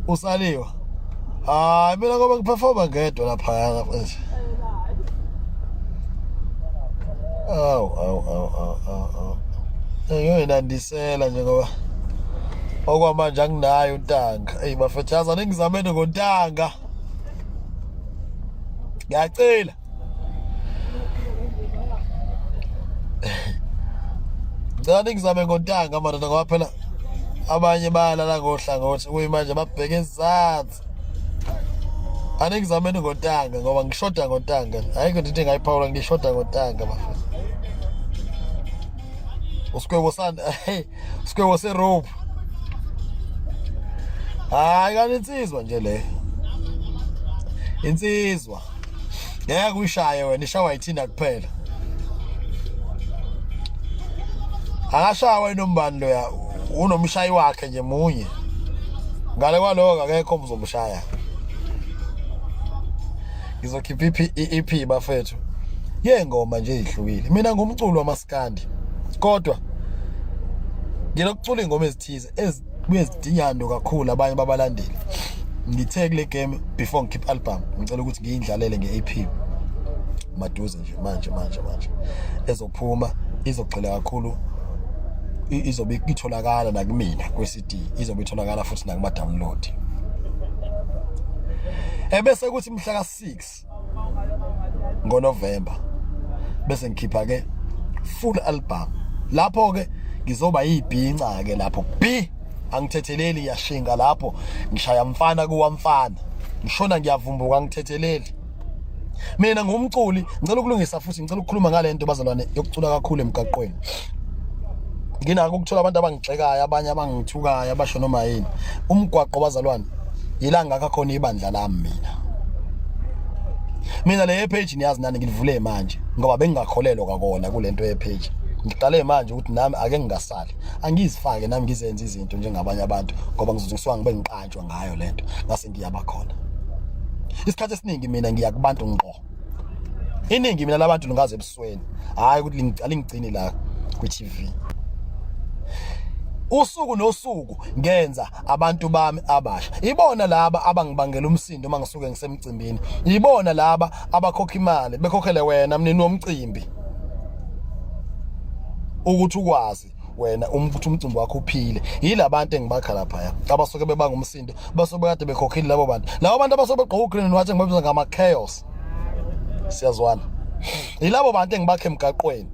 usaliwa hayi mina ngoba ngiperforma ngedwa lapha yaka mfethu awu awu awu awu ngiyoyinandisela nje ngoba okwamanje anginayo untanga eyi bafethu yazi aningizamene ngontanga ngiyacela ngicela ningizame ngontanga madoda ngoba phela abanye bayalala ngohlangothi kuyimanje babheke ezansi aningizameni ngontanga ngoba ngishoda ngontanga ayikho into into engayiphawula ngishoda ngontanga bafana usikwebo sani Skewo se rope. Hayi kanti insizwa nje le. Insizwa. Ngeke uyishaye wena ishawa ithina kuphela. Akashawa inombani lo ya unomshayi wakhe nje munye. Ngale kwaloko akekho omzomshaya. ngizokhipha iphi iEP bafethu yengoma nje ihlukile mina ngumculo wamaskandi kodwa ngilokucula ingoma ezithize ezidingando kakhulu abanye babalandeli ngithe kule game before ngikhipha album ngicela ukuthi ngiyindlalele ngeEP maduze nje manje manje manje ezophuma izogxila kakhulu izobe itholakala nakumina CD izobe itholakala futhi nakuma download ebese kuthi mhla ka 6 ngoNovember bese ngikhipha ke full album lapho ke ngizoba yibhinca ke lapho b angithetheleli yashinga lapho ngishaya mfana kuwamfana ngishona ngiyavumbuka ngithetheleli mina ngumculi ngicela ukulungisa futhi ngicela ukukhuluma ngale nto bazalwane yokucula kakhulu emgaqweni nginako ukuthola abantu abangigxekayo abanye abangithukayo abasho noma yini umgwaqo bazalwane yilanga kakhona ibandla lami mina mina le page niyazi nani ngilivule manje ngoba bengingakholelwa kakona kulento ye page ngiqale manje ukuthi nami ake ngingasali angizifake nami ngizenze izinto njengabanye abantu ngoba ngizothi ngisuka ngibe ngiqala ngiyakhethwa ngayo lento ngase ngiyaba khona isikhathi esiningi mina ngiya kubantu ngqo iningi mina labantu lingaze ebusweni hayi ukuthi lingigcini la ku TV usuku nosuku ngenza abantu bami abasha ibona laba abangibangela umsindo uma ngisuke ngisemcimbini ibona laba abakhokha imali bekhokhele wena mnini womcimbi ukuthi ukwazi wena um, ukuthi umcimbi wakho uphile yila bantu engibakha laphaya abasuke bebanga umsindo basuke bekade bekhokhile labo bantu labo bantu abasuke begqoka ugreen and white engibabiza ngama-chaos siyazwana yilabo bantu engibakhe emgaqweni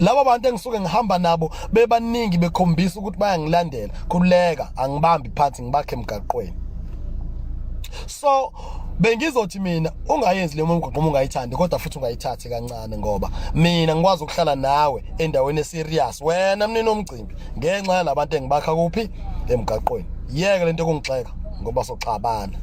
laba bantu engisuke ngihamba nabo bebaningi bekhombisa ukuthi bayangilandela khuleka angibambi phansi ngibakhe emgaqweni so bengizothi mina ungayenzi le mgwaqo uma ungayithandi kodwa futhi ungayithathi kancane ngoba mina ngikwazi ukuhlala nawe endaweni eserious wena mnini omgcimbi ngenxa yalabantu engibakha kuphi emgaqweni yeke lento kungixeka ngoba soxabana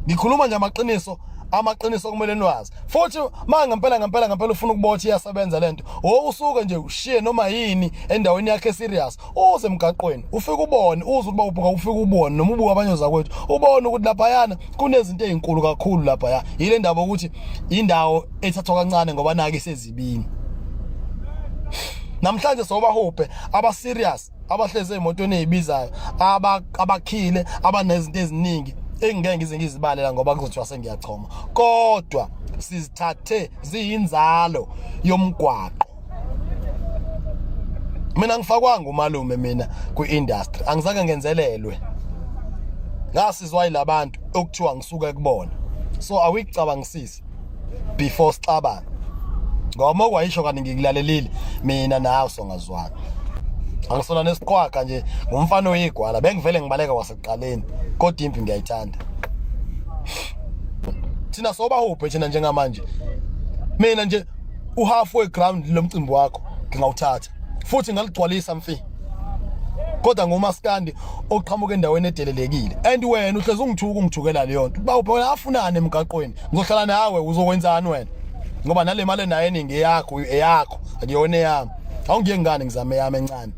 ngikhuluma nje amaqiniso amaqiniso kumele niwazi futhi ma ngempela ngempela ngempela ufuna ukuba uthi iyasebenza lento wo usuke nje ushiye noma yini endaweni yakhe serious uze emgaqweni ufike ubone uze ukuba ubhuka ufike ubone noma ubuka abanye zakwethu ubone ukuthi lapha yana kunezinto ezinkulu kakhulu lapha ya yile ndaba ukuthi indawo ethathwa kancane ngoba nake sezibini namhlanje sobahubhe aba serious abahlezi emotweni ezibizayo abakhile abanezinto eziningi engingeke ngize ngizibalela ngoba kuzothiwa sengiyachoma kodwa sizithathe ziyinzalo yomgwaqo mina ngifakwanga umalume mina kwi-industry angizange ngenzelelwe ngasizwa yilabantu okuthiwa ngisuke kubona so awuyicabangisisi first before sixabana ngoba okwayisho kanti ngikulalelile mina nawe songazwana angisona nesiqwaga nje ngumfana oyigwala bengivele ngibaleka wasekuqaleni kodwa impi ngiyayithanda thina soba huphe thina njengamanje mina nje uhalfway ground lomcimbi wakho ngingawuthatha futhi ngaligcwalisa mfi kodwa ngomaskandi oqhamuka endaweni edelelekile and wena uhlezi ungithuka ungithukela leyo nto uba ubona afunane emgaqweni ngizohlala nawe uzokwenzani wena ngoba nale mali nayo eningi eyakho eyakho akuyona eyami awungiye ngani ngizame yami encane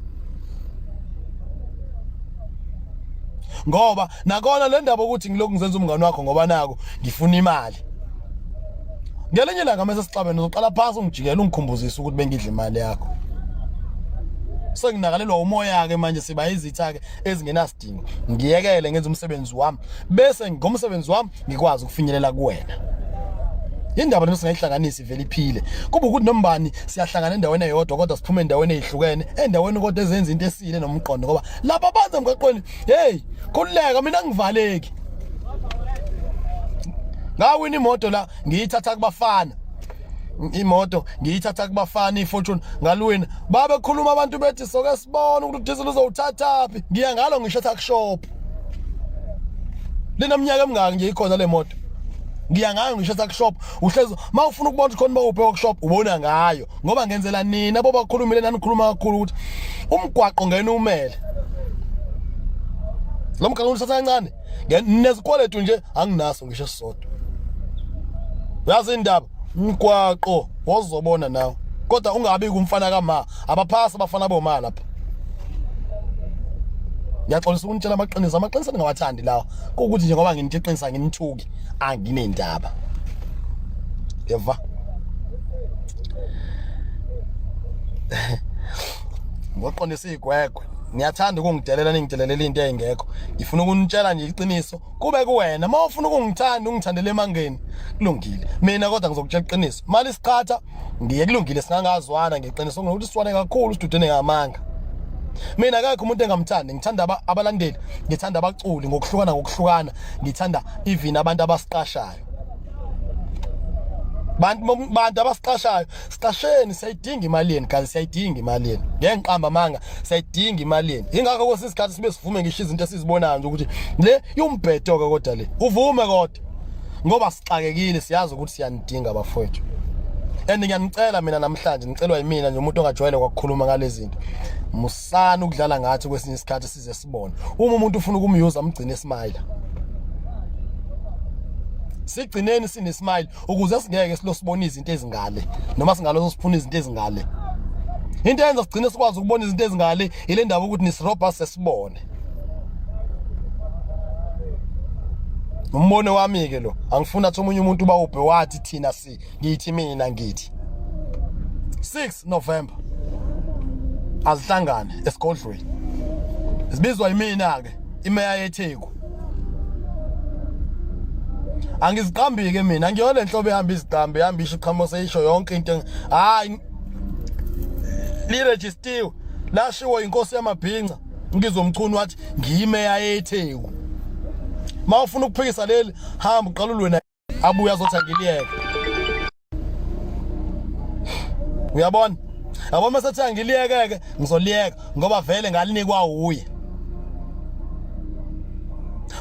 ngoba nakona le ndaba ukuthi ngilokhu ngizenza umngane wakho ngoba nako ngifuna imali ngelinye ilanga mase sixabene uzoqala phansi ungijikela ungikhumbuzise ukuthi bengidla imali yakho senginakalelwa umoya ke manje siba izitha ke ezingenasidingo ngiyekele ngenza umsebenzi wami bese ngomsebenzi wami ngikwazi ukufinyelela kuwena indaba lena singayihlanganisi vele iphile kuba ukuthi nombani siyahlangana endaweni eyodwa kodwa siphume endaweni ezihlukene endaweni kodwa ezenza into esile nomqondo ngoba laba bantu emgaqweni hey khululeka mina ngivaleki ngawini imoto la ngiyithatha kubafana imoto ngiyithatha kubafana ifortune ngalwini babe khuluma abantu bethi soke sibone ukuthi diesel uzowuthatha phi ngiya ngalo ngisho tuck shop lena mnyaka emngaki nje ikhona le moto ngiya ngayo ngisho tuck shop uhlezi mawufuna ukubona ukuthi khona bawuphe workshop ubona ngayo ngoba ngenzela nina boba khulumile nanikhuluma kakhulu ukuthi umgwaqo ngene umele lo mgaqo usatha kancane nezikweletu nje anginaso ngisho sisodwa yazi indaba umgwaqo wozobona nawe kodwa ungabi kumfana kama abaphasi abafana boma lapha ngiyaxolisa ukunitshela amaqiniso amaqiniso ningawathandi lawa kukuthi nje ngoba nginithi iqinisa nginithuki anginendaba yeva ngoqondisa igwegwe niyathanda ukungidelela ningidelela into engekho ngifuna ukunitshela nje iqiniso kube kuwena uma ufuna ukungithanda ungithandele emangeni kulungile mina kodwa ngizokutshela iqiniso mali siqhatha ngiye kulungile singangazwana ngeqiniso ngokuthi siswane kakhulu sidudene ngamanga mina akekho umuntu engamthandi ngithanda abalandeli ngithanda abaculi ngokuhlukana ngokuhlukana ngithanda even abantu abasiqashayo bantu bantu abasiqashayo siqasheni siyayidinga imali yenu guys siyayidinga imali yenu ngenqamba manga siyayidinga imali yenu ingakho kwesinye isikhathi sibe sivume ngisho izinto esizibonayo nje ukuthi le iwumbhedo ke kodwa le uvume kodwa ngoba sixakekile siyazi ukuthi siyanidinga bafowethu and ngiyanicela mina namhlanje ngicelwa yimina nje umuntu ongajwayele kwakukhuluma ngalezinto musani ukudlala ngathi kwesinye isikhathi size sibone uma umuntu ufuna ukumyuza umgcine smile sigcineni sine smile ukuze singeke silosibona izinto ezingale noma singalozo siphuna izinto ezingale into yenza sigcine sikwazi ukubona izinto ezingale ile ndaba ukuthi nisirobha sesibone umbono wami ke lo angifuni athi omunye umuntu bawubhe wathi thina ngithi ngithi mina ngithi 6 November azihlangane esigodlweni sibizwa yimina ke imeya yeTheku angiziqambi ke mina ngiyona lenhlobo ehamba iziqambi ihamba isho iqhamo seyisho yonke into hayi liregistiwe lashiwo inkosi yamabhinca ngizomchunu wathi ngiyimeya yeTheku mawufuna ukuphikisa leli hamba uqalulwe abuye azothi angiliyeke uyabona yabo uma sethi angiliyeke-ke ngizoliyeka ngoba vele ngalinikwa wuye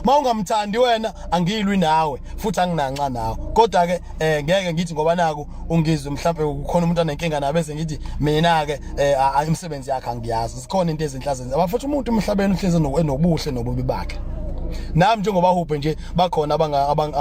ma ungamthandi wena angiyilwi nawe futhi anginanxa nawe kodwa ke eh ngeke ngithi ngoba naku ungizwe mhlawumbe kukhona umuntu anenkinga nabe sengithi mina ke eh imisebenzi yakhe angiyazi sikhona into ezinhle azenza abafuthi umuntu emhlabeni uhlezi enobuhle nobubi bakhe nami njengoba hubhe nje bakhona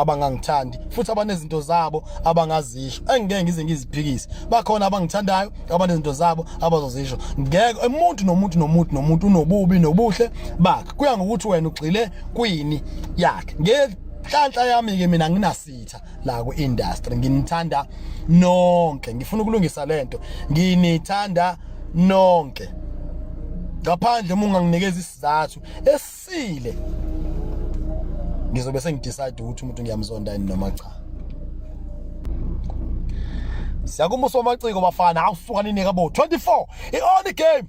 abangangithandi futhi abanezinto zabo abangazisho engeke ngize ngiziphikise bakhona abangithandayo abanezinto zabo abazozisho ngeke umuntu nomuntu nomuntu nomuntu unobubi nobuhle bakhe kuya ngokuthi wena ugxile kwini yakhe ngenhlanhla yami ke mina nginas sitha la ku industry nginithanda nonke ngifuna ukulungisa lento nginithanda nonke ngaphandle uma unganginikeza isizathu esile ngizobe sengidecide ukuthi umuntu ngiyamzonda yini noma cha siyakumbuso amaciko bafana awusuka ninike bo 24 i-only game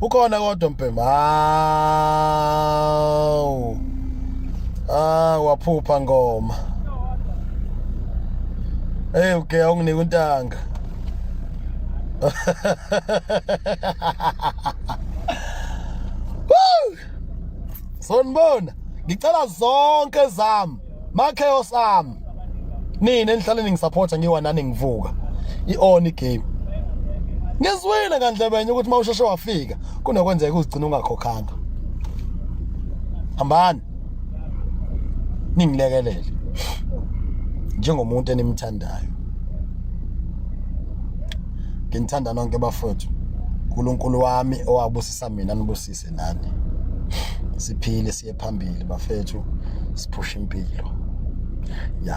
ukhona kodwa mbhema hawu ah waphupha ngoma hey uke awunginike untanga sonibona ngicela zonke zami ma chaos am nina enhlale ningisupporta ngiwa nani ngivuka ioni game ngizwile kandlebenye ukuthi mawusheshe wafika kunokwenzeka uzigcina ungakhokhanga hambani ningilekelele njengomuntu enimthandayo nginithanda nonke bafowethu uNkulunkulu wami owabusisa mina nibusise nani siphile phambili bafethu siphusha impilo ya